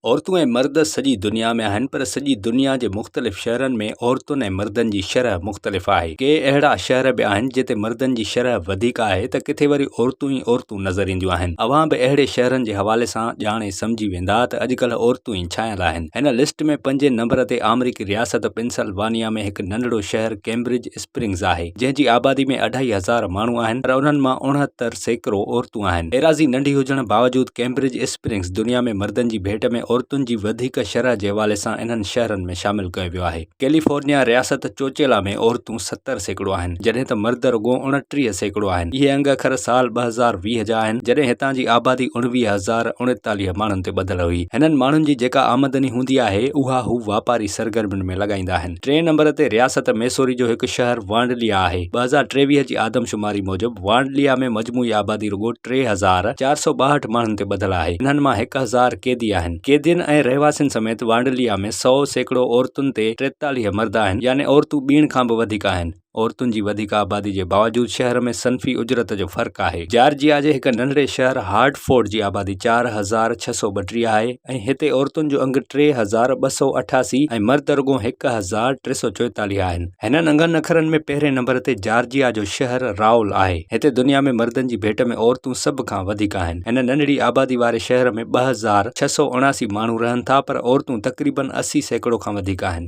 عورتون ۽ مرد سڄي دنيا ۾ آهن پر سڄي دنيا جي مختلف شهرن ۾ عورتن ۽ مردن جي شرح مختلف آهي. ڪي اهڙا شهر به آهن جتي مردن جي شرح وڌيڪ آهي ته ڪٿي وري عورتون ئي عورتون نظر اينديون آهن. اوهان به اهڙي شهرن جي حوالي سان ڄاڻي سمجهي ويندا ته اڄڪلهه عورتون ئي ڇانيل آهن. هن لسٽ ۾ پنجين نمبر تي آمريڪي رياست پنسل وانيا ۾ هڪ ننڍڙو شهر ڪيمبرج اسپرنگز آهي، جنهن جي آبادي ۾ اڍائي هزار ماڻهو آهن پر انهن مان اڻهتر سيڪڙو عورتون آهن. ايراضي ننڍي هجڻ باوجود ڪيمبرج اسپرنگز دنيا ۾ مردن جي ڀيٽ ۾ عورتن جي وڌيڪ شرح جي حوالي سان انهن شهرن ۾ شامل ڪيو ويو آهي. ڪيليفورنيا رياست چوچيلا ۾ عورتون ستر سيڪڙو آهن، جڏهن ته مرد رڳو اڻٽيهه سيڪڙو آهن. اهي انگ اکر سال ٻه هزار ويهه جا آهن، جڏهن هتان جي آبادي اڻويهه هزار اڻيتاليهه ماڻهن تي ٻڌل هئي. هنن ماڻهن جي جيڪا آمدني هوندي آهي، اها هو واپاري سرگرمين ۾ لڳائيندا آهن. ٽئين نمبر تي رياست ميسوري جو هڪ شهر وانڊليا آهي. ٻه هزار ٽيويهه جي آدمشماري موجب وانڊليا ۾ مجموعي آبادي رڳو ٽي هزار چار سؤ ٻاهٺ ماڻهن تي ٻڌل آهي. انهن مان هڪ هزار قيدي آهن. قيدين ۽ رهواسين سميت وانڊليا ۾ سؤ سيڪڙو عورتن تي ٽيتاليهه مرد آهن يعني عورتون ٻيڻ کان به وڌيڪ آهن. عورتن جي وڌيڪ آبادي جي باوجود شهر ۾ صنفي اجرت جو فرق آهي. جارجيا جي هڪ ننڍڙي شهر هارٽفورڊ جي آبادي چار هزار ڇهه سؤ ٻٽيهه آهي ۽ هتي عورتن جو انگ ٽي هزار ٻه سؤ اٺاسي ۽ مرد رڳو هڪ هزار ٽي سؤ چوئيتاليهه آهن. هنن انگن اکرن ۾ پهرين نمبر تي جارجيا جو شهر رائول آهي. هتي دنيا ۾ مردن جي ڀيٽ ۾ عورتون سڀ کان وڌيڪ آهن. هن ننڍڙي آبادي واري شهر ۾ ٻه هزار. ڇهه سؤ اڻاسي ماڻهو رهن ٿا پر عورتون تقريبن اسي سيڪڙو کان وڌيڪ آهن.